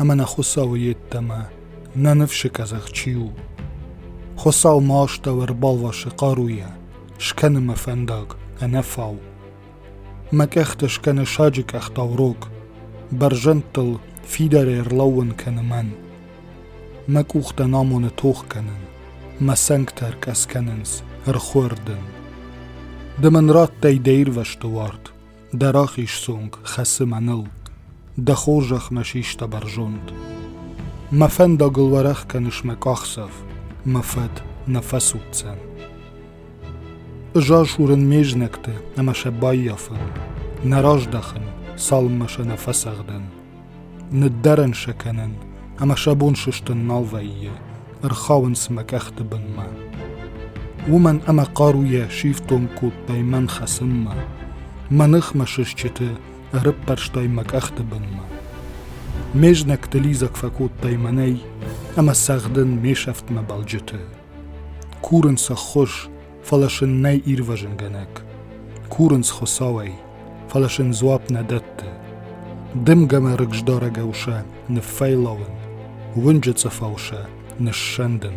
ӕмӕ нӕ Хуыцауы йеддӕмӕ нӕ ныфсы къӕдзӕх чи у. Хуыцау ма астӕу ӕрбалвасы хъаруйӕ, скӕны мӕ фӕндаг ӕнӕфау. Мӕ къӕхтӕ скӕны саджы къӕхтау рог, бӕрзӕндтыл фидарӕй ӕрлӕууын кӕны мӕн. Мӕ къухтӕн амоны тох кӕнын, мӕ цӕнгтӕ ӕркъӕс кӕнынц ӕрхуӕрдын. Ды мын радтай дӕ ирвӕзты уарт, Дӕ рахиз цонг хӕцы мӕныл, Дӕ хорзӕхмӕ систа бӕрзонд. Мӕ фӕндагыл уӕрӕх кӕныс мӕ къахдзӕф, Мӕ фӕд нӕ фӕцуддзӕн. Ызасурын ме знӕгты ӕмӕ сӕ баййафын, Нӕ раздахын, цалынмӕ сӕ нӕ фӕцӕгъдын. Ныддӕрӕн сӕ кӕнын, ӕмӕ сӕ бон сыстын нал вӕййы, ӕрхауынц мӕ къӕхты бынмӕ. Уымӕн ӕмӕ хъаруйӕ сифтонг кодтай мӕн хӕцынмӕ, мӕ ныхмӕ сысджыты ӕрыппӕрстай мӕ къӕхты бынмӕ. Ме знӕгты лидзӕг фӕкодтай мӕнӕй, ӕмӕ цӕгъдын ме сӕфтмӕ балджыты. Курын сӕ ххуыс, фӕлӕ сын нӕй ирвӕзынгӕнӕг. Курынц Хуыцауӕй, фӕлӕ сын дзуапп нӕ дӕтты. Дымгӕмӕ рыгздарӕгау сӕ ныффӕйлауын, уынджы цъыфау сӕ ныссӕндын.